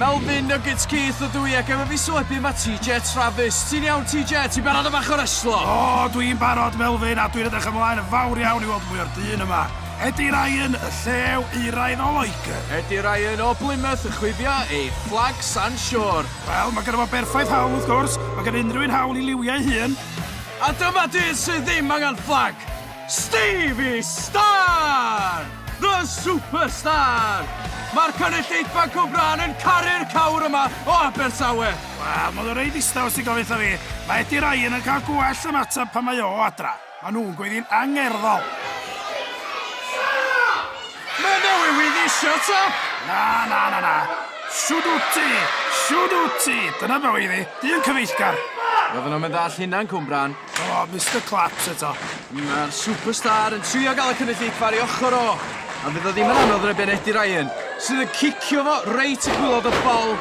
Melvin Nuggets Keith ydw i ac efo fi so ebydd mae TJ Travis. Ti'n iawn TJ? Ti'n barod am bach o reslo? O, dwi'n barod Melvin a dwi'n edrych ymlaen yn fawr iawn i weld mwy o'r dyn yma. Eddie Ryan, y llew euraidd o Loegr. Eddie Ryan o Blymouth yn chwifio ei fflag San Siôr. Wel, mae gynno fo berffaith hawl wrth gwrs, mae gan unrhyw un hawl i liwio ei hun. A dyma dyn sydd ddim angen fflag! Stevie Starr! The Superstar! Mae'r cynulleidfa Cwmbrân yn caru'r cawr yma o Abertawe! Wel, ma' 'na rei ddistaw sy'n gofyn 'tha fi, mae Eddie Ryan yn cael gwell ymateb pan mae o adra. Mae nhw'n gweiddi'n angerddol. Mae Dewi Wyn isio to! Na, na, na, na. Shwd wyt ti? Shwd wyt ti? Dyna be oedd hi. Dyn cyfeillgar. Roedden nhw'm yn ddall hunan Cwmbrân. O, oh, Mr Claps eto. Mae'r superstar yn trio gael y cynulleidfa ar ei ochr o. A fydd o ddim yn anodd rebyn Eddie Ryan, sydd yn cicio fo reit y gwylod y bol.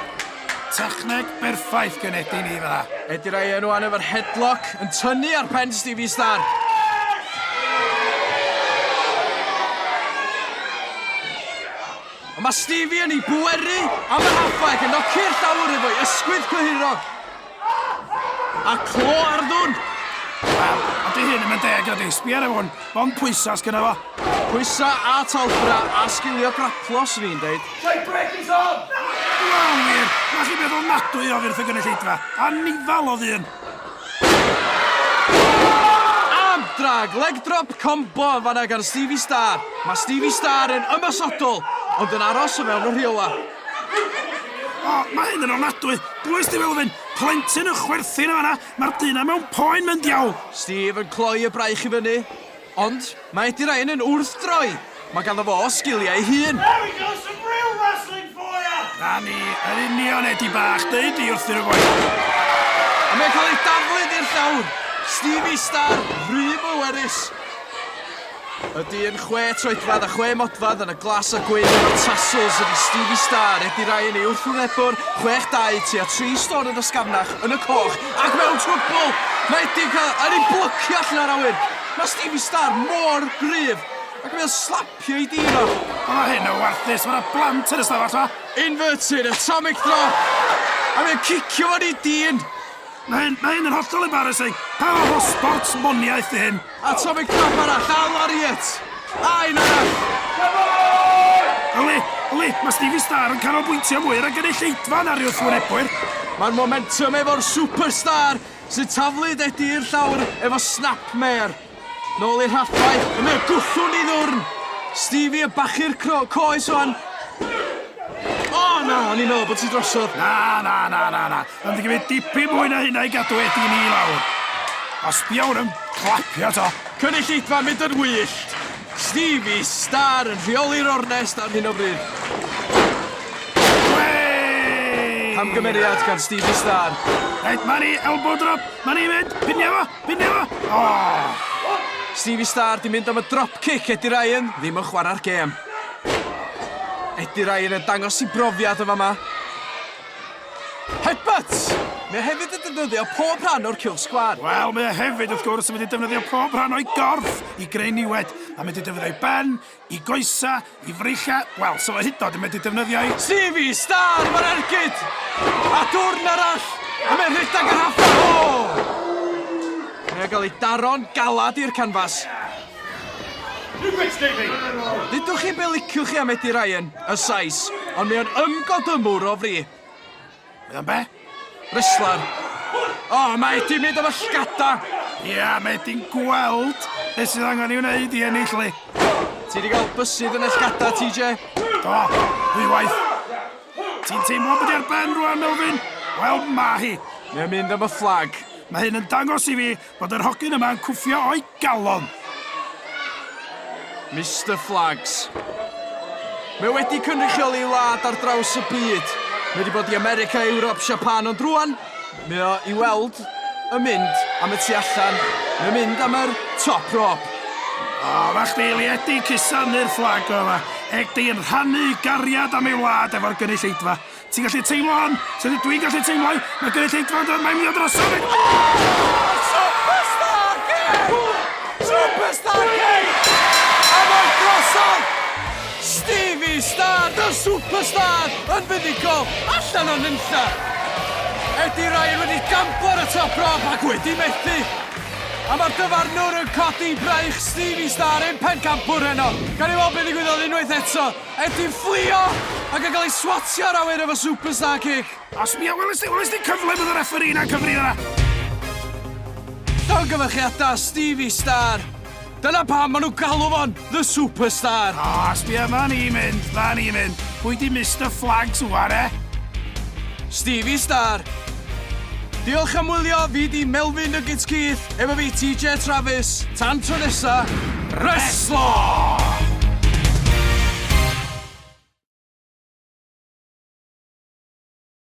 Techneg berffaith gen Eddie ni fydda. Eddie Ryan o'n efo'r headlock yn tynnu ar pen Stevie Star. Mae Stevie yn ei bweru a mae Haffaeg yn noci'r llawr efo'i ysgwydd cyhyrog. A clo ar ddwn! Wel, a di hyn yn deg ydi, sbia ar hwn, mond pwysa sgynna fo. Pwysa a talfra a sgilio graplo, swn i'n deud. Shai brec is on! Wel wir, na chi beth ofnadwy o fyrth y gynulleidfa. Anifal o ddyn! Ab drag, leg drop combo yn fanna gan Stevie Star. Mae Stevie Star yn ymosodol, ond yn aros o fewn y rheolau. O, mae hyn yn ofnadwy! Bwy sti fel fyn? Plentyn yn chwerthin yn fanna, mae'r dyn na mewn poen mewn diawl! Steve yn cloi y braich i fyny. Ond, mae Eddie Ryan yn wrthdroi! Mae ganddo fo sgiliau ei hun! There we go, some real wrestling for ya! Na ni, yn union, Eddie bach, deud di wrthyn y boi! A mae'n cael ei daflu i'r llawr! Stevie Star, rhy bwerus! Y dyn chwe troedfedd a chwe modfedd yn y glas a gwyn efo'r tassels ydi Stevie Starr, Eddie Ryan ei wrthwynebwr, 62 tua 3 stôn yn ysgafnach, yn y coch, ac mewn trwbl! Mae Eddie'n cael yn ei blycio allan o'r awyr! Mae Stevie Starr mor gryf! Ac mae o'n slapio ei dîn o! O mae hyn yn warthus, mae yna blant yn y stafell ma! Inverted atomic drop! A mae o'n cicio fo'n ei dîn! Mae hyn, mae hyn yn hollol embarrassing! Pa fath o sports moniaeth di hyn? Atomic Drop arall, a Lariat! A un arall! Come on! Yli, yli, mae Stevie Starr yn canolbwyntio mwy ar y gynulleidfa na'r wrthwynebwyr. Mae'r momentum efo'r superstar sy'n taflu Eddie i'r llawr efo snapmare. Nôl i'r rhallfai, a mae o gwthw'n i ddwrn. Stevie yn bachu'r cro- coes wan. O na, o'n i'n meddwl bod ti drosodd. Na, na, na, na, na. Mae'n mynd i gymryd dipyn mwy na hynna i gadw Eddie ni i lawr. A sbia hwn yn clapio to. Cynulleidfa mynd yn wyllt. Stevie Starr yn rheoli'r ornest ar hyn o bryd. Camgymeriad gan Stevie Starr. Reit, mae ni elbow drop. Mae ni'n mynd. Pinia fo, pinia fo. Oh. Stevie Starr di mynd am y drop kick Eddie Ryan, ddim yn chwarae'r gêm. Eddie Ryan yn dangos i brofiad yn fama. Headbutt! Mae hefyd yn defnyddio pob rhan o'r cylch sgwâr. Wel, mae hefyd, wrth gwrs, yn mynd i defnyddio pob rhan o'i gorff i greu niwed. Mae'n mynd i defnyddio ei ben, i goesa, i freichiau, wel, so fo hydnod yn mynd i defnyddio ei... Sifi, Star, mae'r ergyd! A dwrn arall, a mae'n rhedeg yr haffa! O! Mae o'n cael ei daro'n galad i'r canfas. Dudwch chi be liciwch chi am Eddie Ryan, y Sais, ond mae o'n ymgodymwr o fri. Mae o'n be? Wrestler. O, mae Eddie'n mynd am y llgada! Ia, mae Eddie'n gweld beth sydd angen i wneud i ennill li. Ti wedi cael bysydd yn y llgada, TJ? Do, ddwywaith. Ti'n teimlo bod i'r ben rwan, Melvin? Wel, mae hi. Mae o'n mynd am y fflag. Mae hyn yn dangos i fi Bod yr hogyn yma yn cwffio o'i galon! Mister Flaggs. Mae wedi cynrychioli ei wlad ar draws y byd. Mae wedi bod i America, Ewrop, Siapan, ond rwan, mae o i weld yn mynd am y tu allan, mae'n mynd am yr top rope. O, fa chdi liedi cusanu'r fflag o yma. Eg di'n rhannu gariad am ei wlad efo'r gynulleidfa. Ti'n gallu teimlo hon? Sut ydw i'n gallu teimlo hi? Mae gynulleidfa yn dod mae'n mynd i ddod drosof fi! Superstar Kate! Superstar Kate! A mae drosodd! Stevie Star, the superstar, yn fuddugol, allan o nunlla! Eddie Ryan wedi gamplo ar y top rob ac wedi methu! A mae'r dyfarnwr yn codi braich Stevie Star i'm pencampwr heno! Gawn ni weld be ddigwyddodd unwaith eto! Er dwi'n fflio ac yn cael ei swatio ar awyr efo superstar kick! O sbia, weles di, weles di cyfle bod y refferî 'na'n cyfri yna? Llongyfarchiadau, Stevie Star! Dyna pam maen nhw'n galw fo'n The Superstar! O, sbia, ma ni'n mynd, ma ni'n mynd. Pwy di Mister Flags wan, eh? Stevie Star! Diolch am wylio, fi di Melfyn Nuggets Keith. Efo fi TJ a Travis. Tan tro nesa, reslo!